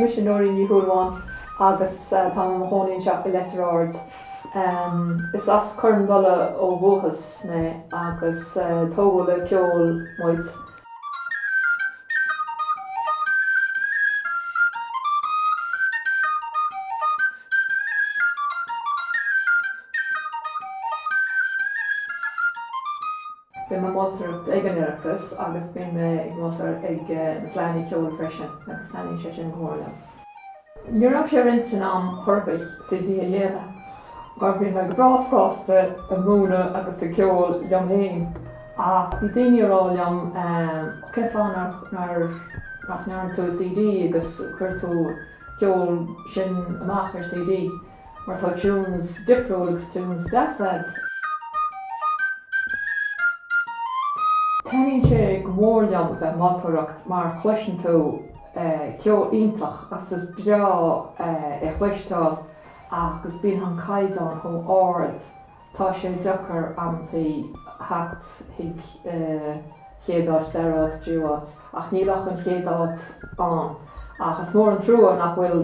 mise Nóirín Ní Shúilleabháin agus tá mé i mo chónaí anseo i Leitir Ard. Is as Cor an Dola ó dhúchas mé agus tógadh le ceol muid. Bím ag moltóireacht ag an Oireachtas agus bím ag moltóireacht ag na Fleadhanna Ceoil freisin agus taitníonn sé sin go mór liom. Ní raibh sé ar m'intinn i ndáiríre CD a dhéanamh mar bhí mé go breá sásta ag múineadh agus ag ceol liom féin ach bhí daoine ag rá liom cén fáth nach ndéanann tú CD agus cuir tú an ceol sin amach ar CD mar tá tunes difriúil agus tunes deasa agat. Taitníonn sé go mór liom a bheith ag moltóireacht mar cloiseann tú Ceol iontach agus is breá é chloisteáil agus bíonn an caighdeán chomh ard tá sé deacair amantaí theacht chuig chéad áit, dara áit, tríú áit ach níl ach an chéad áit ann ach is mór an trua nach bhfuil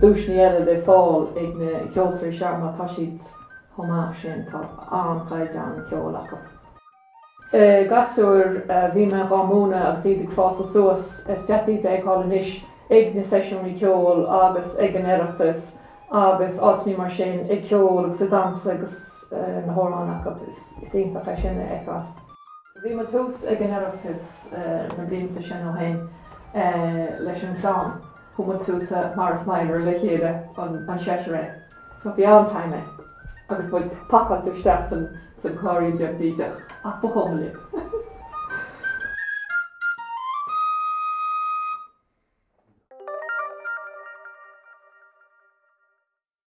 duaiseanna eile le fáil ag na ceoltóirí seo mar tá siad chomh maith sin, tá an-chaighdeán ceoil acu. Na gasúir, bhí mé dhá múineadh agus iad ag fásadh suas. Is deas iad a fheiceáil anois ag na seisiúnaí ceoil agus ag an Oireachtas agus áiteannaí mar sin, ag ceol agus ag damhsa agus na hamhráin acu. Is iontach é sin a fheiceáil. Bhí muid thuas ag an Oireachtas na blianta sin ó shin leis an clann. Chuaigh muid suas sa Morris Minor le chéile, an seisear againn. Sa veain tiny agus muid pacáilte isteach sa sa gcairrín beag bídeach ach ba chuma linn.